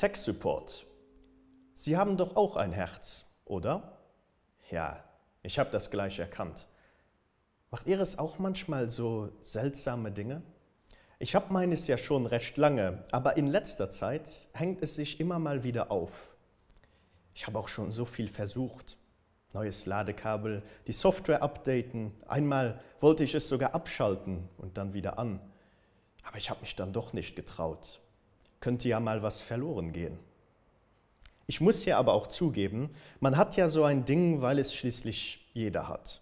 Tech Support, Sie haben doch auch ein Herz, oder? Ja, ich hab das gleich erkannt. Macht Ihr es auch manchmal so seltsame Dinge? Ich hab meines ja schon recht lange, aber in letzter Zeit hängt es sich immer mal wieder auf. Ich hab auch schon so viel versucht. Neues Ladekabel, die Software updaten, einmal wollte ich es sogar abschalten und dann wieder an, aber ich hab mich dann doch nicht getraut, könnte ja mal was verloren gehen. Ich muss hier aber auch zugeben, man hat ja so ein Ding, weil es schließlich jeder hat.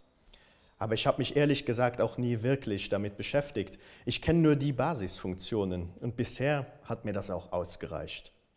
Aber ich hab mich ehrlich gesagt auch nie wirklich damit beschäftigt, ich kenn nur die Basisfunktionen und bisher hat mir das auch ausgereicht.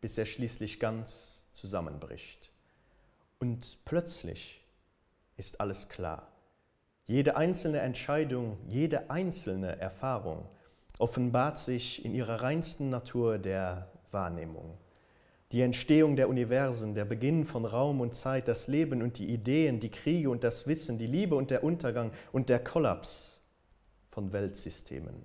bis er schließlich ganz zusammenbricht. Und plötzlich ist alles klar. Jede einzelne Entscheidung, jede einzelne Erfahrung offenbart sich in ihrer reinsten Natur der Wahrnehmung. Die Entstehung der Universen, der Beginn von Raum und Zeit, das Leben und die Ideen, die Kriege und das Wissen, die Liebe und der Untergang und der Kollaps von Weltsystemen.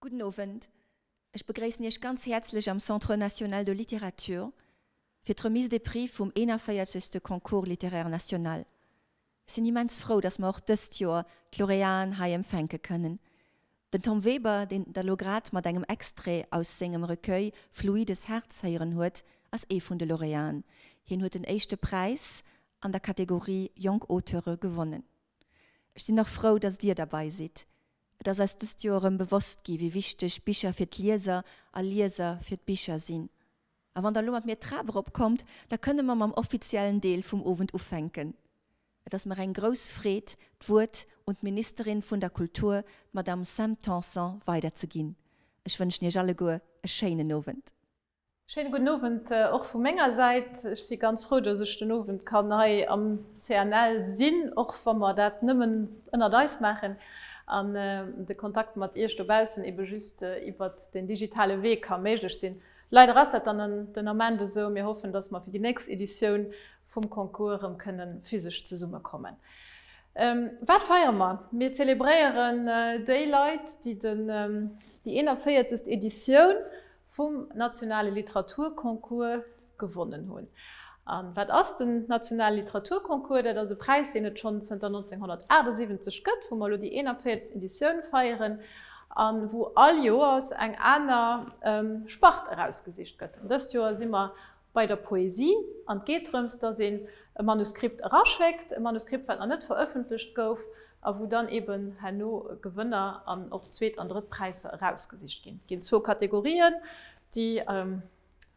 Gudden Owend, ech begréissen Iech ganz häerzlech am Centre National de Littérature fir d'Remise des Prix vum 41. Concours Littéraire National. Ech sinn immens frou, datt mer och dëst Joer d'Laureaten hei empfänke kënnen. Den Tom Weber, deen Der elo grad mat engem Extrait aus sengem Recueil Fluides Herz héieren huet, ass ee vun de Laureaten. Hien huet den éischte Präis an der Kategorie Jonk Auteure gewonnen. Ech sinn och frou, dass Dir derbei sidd. Et ass eis dëst Joer erëm bewosst gi wéi wichteg Bicher fir d'Lieser a Lieser fir d'Bicher sinn. A wann Der elo mat mir d'Trap erop kommt, da kënne mer mam offiziellen Deel vum Owend ufänken. Et ass mer eng grouss Freed, d'Wuert un d'Ministerin vun der Kultur, d'Madame Sam Tanson, weiderzeginn. Ech wënschen Iech alleguer e schéinen Owend. Schéine gudden Owend och vu menger Säit. Ech si ganz frou, dass ech den Owend kann hei am CNL sinn, och wa mer dat nëmmen ënnert eis maachen an de Kontakt mat Iech dobaussen ebe just iwwert den digitale Wee ka méiglech sinn. Leider ass dat dann den Ament esou. Mir hoffen, dass mer fir déi nächst Editioun vum Concours erëm kënne physesch zesummekommen. Wat feiere mer? Mir zelebréieren déi Leit, déi déi 41. Editioun vum nationale Literaturconcours gewonnen hunn. A wat ass den nationale Literaturconcours? Dat ass e Präis, deen et schonn zënter 1978 gëtt, wou mer elo déi 41. Editioun feieren a wou all Joers eng aner Spart erausgesicht gëtt. An dëst Joer si mer bei der Poesie an et geet drëms, dass een e Manuskript eraschéckt, e Manuskript, wat nach net verëffentlecht gouf a wou dann eben herno Gewënner an och Zweet an Drëtt Präisser erausgesicht ginn. Et ginn zwou Kategorien, déi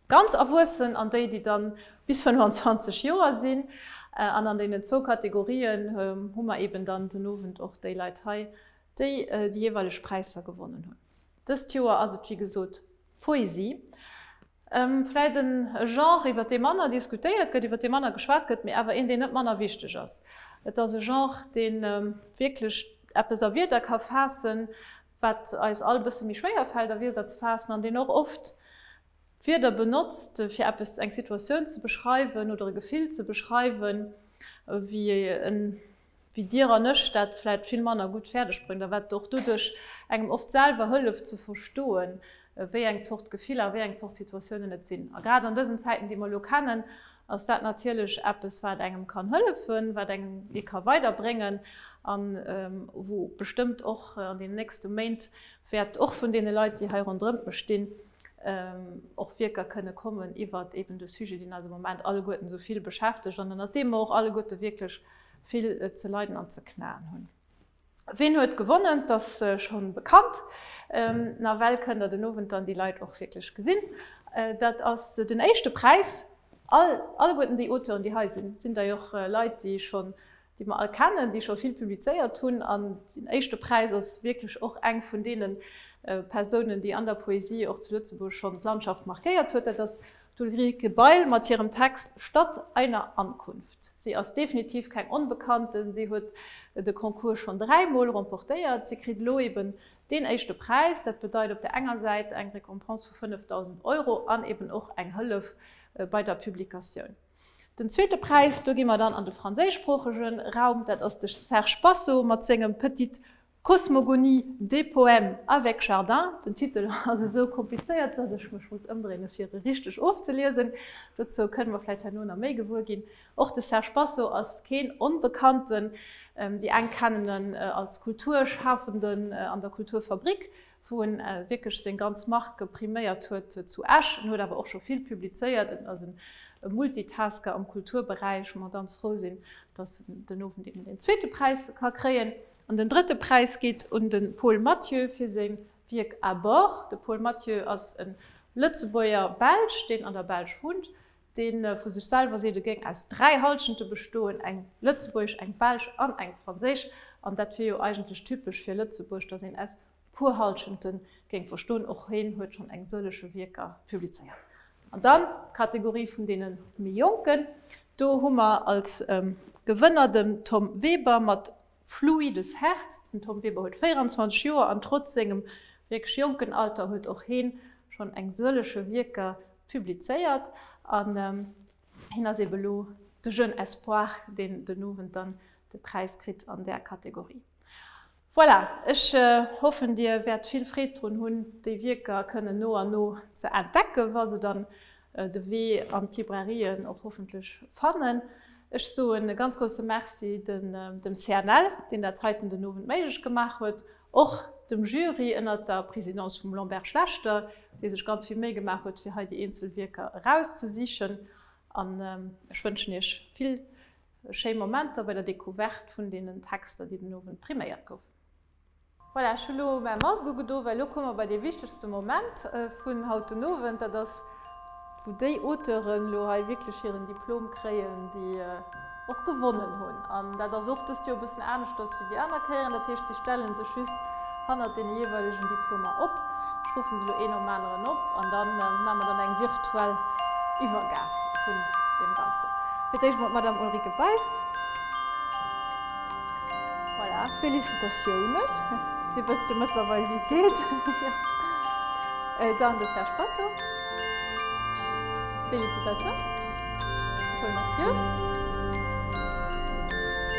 ganz Erwuessen an déi, déi da bis 25 Joer sinn. An an deenen zwou Kategorien hu mer eben dann den Owend och déi Leit hei, déi déi jeeweileg Präisser gewonnen hunn. Dëst Joer ass et wéi gesot d'Poesie. Vläit en Genre iwwer dee manner diskutéiert gëtt, iwwer dee manner geschwat gëtt, mee awer een deen net manner wichteg ass. Et ass e Genre deen wierklech eppes a Wierder ka faassen, wat eis all e bësse méi schwéier fält a Wierder ze faassen, an deen och oft Wierder benotzt fir eppes, eng Situatioun ze beschreiwen oder e Gefill ze beschreiwen, wéi en wéi Dir an ech dat vläit vill manner gutt fäerdeg bréngt a wat och doduerch engem oft selwer hëlleft ze verstoen, wéi eng Zort Gefiller a wéi eng Zort Situatiounen et sinn. A grad an dësen Zäiten, déi mer elo kennen, ass dat natierlech eppes, wat engem kann hëllefen, wat engem ee ka weiderbréngen a wou bestëmmt och an deenen nächste Méint wäert och vun deene Leit, déi hei ronderëm mech stinn, och Wierker kënne kommen iwwert eeben de Sujet, deen eis am Moment alleguerten esou vill beschäftegt an ënnert deem mer och alleguerte wierklech vill ze leiden an ze knaen hunn. Ween huet gewonnen? Et ass schonn bekannt. Nawell kënnt Der den Owend dann déi Leit och wierklech gesinn. Dat ass den éischte Präis. All, alleguerten déi Auteuren, déi hei sinn, sinn dei och Leit, déi schonn, déi mer all kennen, déi scho vill publizéiert hunn. An den éischte Präis ass wierklech och eng vun deene Persounen, déi an der Poesie och zu Lëtzebuerg schonn d'Landschaft markéiert huet. Dat ass D'Ulrike Bail mat hirem Text Stadt einer Ankunft. Si ass definitiv keng Onbekannte, si huet de Concours schonn dräi Mol remportéiert. Si kritt elo eben deen éischte Präis. Dat bedeit op der enger Säit eng Récompense vu 5.000 Euro an eben och eng Hëllef bei der Publikatioun. Den zweete Präis, do gi mer dann an de franséischsproochege Raum, dat ass de Serge Passot mat sengem Petite Cosmogonie, des poèmes avec jardin, den Titel ass esou komplizéiert, dass ech mech muss ëmdréine fir e richteg ofzeliesen. Dozou kënne mer vläicht herno nach méi gewuer ginn. Och de Serge Basso ass keen Onbekannten. Déi eng kennen en als Kulturschafenden an der Kulturfabrik, wou en wierklech seng ganz Marque priméiert huet zu Esch. En huet awer och scho vill publizéiert. En ass e Multitasker am Kulturberäich, wou mer ganz frou sinn, dass en den Owend eben deen zweete Präis ka kréien. An den drëtte Präis geet un de Paul Mathieu fir seng Wierk À bord. De Paul Mathieu ass e Lëtzebuerger-Belsch, deen an der Belsch wunnt, dee vu sech selwer seet, e géing aus dräi Halschente bestoen, eng lëtzebuergesch, eng belsch an eng franséisch. An dat wier jo eigentlech typesch fir Lëtzebuerg, datt een aus puer Halschenten géing verstoen, och hien huet schonn eng sëllege Wierker publizéiert. An dann d'Kategorie vun deene méi Jonken, do hu mer als Gewënner dem Tom Weber mat Fluides Herz. Den Tom Weber huet 24 Joer an trotz sengem wierklech jonken Alter huet och hien schonn eng sëllege Wierker publizéiert an hien ass eebe lo de Jeune Espoir, deen den Owend dann de Präis kritt an där Kategorie. Voilà, ech hoffen dir wäert vill Freed drun hunn déi Wierker kënnen no an no ze entdecken, wa se dann de Wee an d'Librairien och hoffentlech fannen. Ech soen e ganz grousse Merci dem CNL, deen dat heiten den Owend méiglech gemaach huet, och dem Jury ënnert der Présidence vum Lambert Schlechter, dee sech ganz vill Méi gemaach huet fir hei déi eenzel Wierker erauszesichen an ech wënschen iech vill Schéi Momenter bei der Decouverte vun deenen Texter, déi den Owend priméiert goufen. Voilà, ech hu lo mäi Mask ugedo, well lo komme mer bei dee wichtegste Moment vun haut den Owend. Dat ass, wou déi Auteuren lo hei wierklech hiren Diplom kréien, déi och gewonnen hunn. An dat ass och dëst Joer e bëssen aneschters wéi déi aner Kéieren. Dat heescht, si stelle sech just hannert den jeweiligen Diplomer op. Ech ruffen se elo een nom aneren op an dann maan mer dann eng virtuell Iwwergaaf vun dem ganzen. Fir d'éischt mol d'Madame Ulrike Bail. Voilà, Félicitatiounen, dir wësst jo mëttlerweil wéi et geet. Dann de Serge Spasso. Félicitations. Paul Mathieu.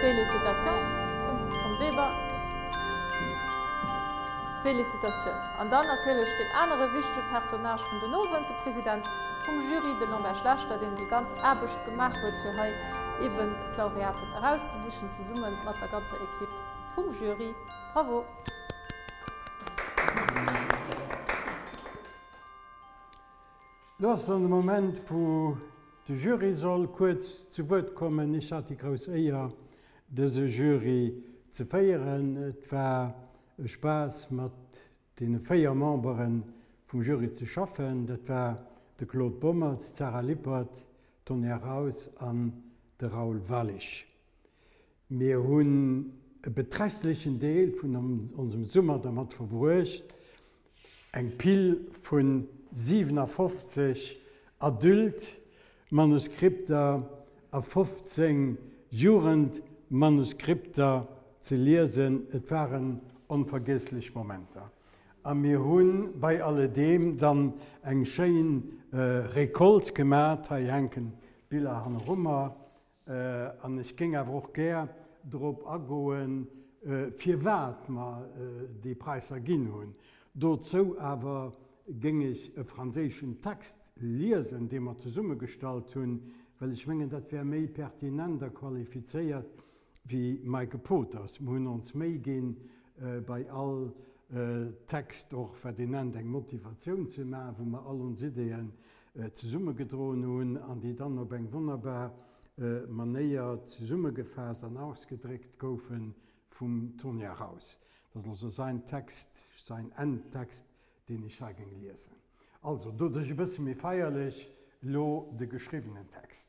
Félicitations. Tom Weber. Félicitatioun! An dann natierlech deen anere wichtege Personnage vun den Owend, de President vum Jury, de Lambert Schlechter, deen déi ganz Aarbecht gemaach huet, fir hei eeben d'Laureaten erauszesichen, zesumme mat der ganzer Ekipp vum Jury. Bravo! Lo ass dann de Moment, wou de Jury soll kuerz zu Wuert kommen. Ech hat déi grouss Éier, dëse Jury ze féieren. Et war e Spaass mat deene véier Membere vum Jury ze schaffen, dat war de Claude Bommertz, d'Sarah Lippert, d'Tonya Raus an de Raoul Walisch. Mir hunn e beträchtlechen Deel vun onsem Summer dermat verbruecht Eng Pill vu 57 Adult-Manuskripter a 15 Jugendmanuskripter ze liesen, et waren onvergiesslech Momenter. A mir hu bei alledeem dann eng schéin Récolte gemat, hei hänken d'Biller hannerummer, An ech géing awer och gär drop agoen, firwat mer déi Präisser ginn hunn. Dozou awer géing ech e franséischen Text liesen, dee mer zesummegestallt hunn, well ech mengen, dat wär méi pertinent a qualifizéiert wéi mäi Gepoters. Mer hunn ons Méi ginn, bei all Text och, wat ee nennt, eng Motivatioun ze maachen, wou mer all ons Ideeë zesummegedroen hunn an déi dann op eng wonnerbar Manéier zesummegefaasst an ausgedréckt goufe vum Tonia Raus. Dat ass also säin Text, säin Endtext, deen ech hei géing liesen. Also, doduerch e bësse méi feierlech elo de geschriwwenen Text.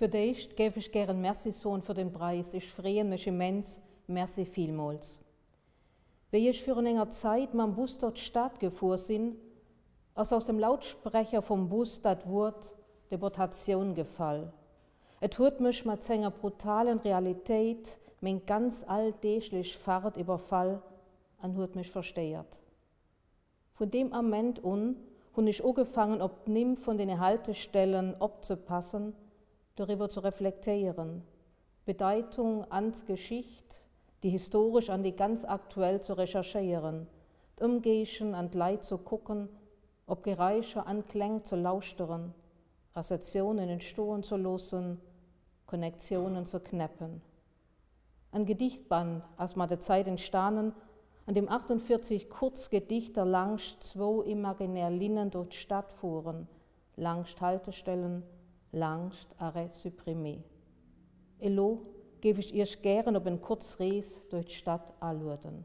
Fir d'éischt géif ech gären Merci soen fir den Preis. Ech freeën mech immens. Merci villmools. Wéi ech virun enger Zait mam Bus dor d'Staat gefuer sin, ass aus dem Lautsprecher vum Bus dat Wuert Deportatioun gefall. Et huet mech mat senger brutalen Realitéit meng ganz alldeeglech Fahrt iwwerfall an huet mech verstéiert. Vun deem Ament un hunn ech ugefaangen op d'Nimm vun den Haltestellen opzepassen, doriwwer ze reflektéieren, d'Bedeitung an d'Geschicht, déi historesch an déi ganz aktuell ze recherchéieren, d'Ëmgéigen an d'Leit ze kucken, op Geräischer an Kläng ze lauschteren, Reseationen entstoen ze loossen, Connectionen ze knäppen. En Gedichtband ass mat der Zäit entstanen, an deem 48 kurz Gedichter langscht zwou imaginär Linnen durch d'Stad fueren, langscht Haltestellen, langscht Arrêts supprimés. Elo géif ech Iech gären op en kurz Rees durch d'Stad alueden.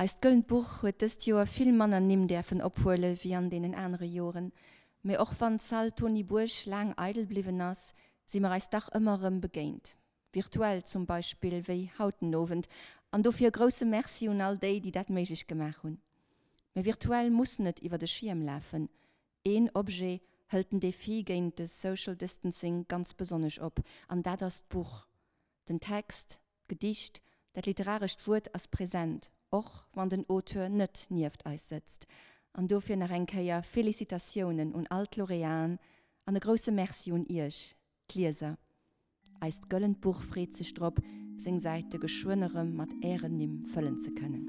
Eist Gëllent Buch huet dëst Joer vill manner Nimm däerfen ophuele wéi an deenen anere Joren, mee och wann d'Salle Tony Bourg laang eidel bliwwen ass, si mer eis dach ëmmer erëm begéint, virtuell zum Beispill wéi haut den Owend, an dofir e grousse Merci un all déi, déi dat méiglech gemaach hunn. Mä virtuell muss net iwwert e Schierm lafen, een Objet hëlt den Defi géint de Social Distancing ganz besonnesch op, an dat ass d'Buch, den Text, D'Gedicht, dat literarescht Wuert ass present, och wann den Auteur net nieft eis sëtzt. An dofir nach eng Kéier Félicitatiounen un all d'Laureaten an e grousse Merci un Iech, d'Lieser. Eist gëllent Buch freet sech drop, seng Säite geschwënn erëm mat Ären Nimm fëllen ze kënnen.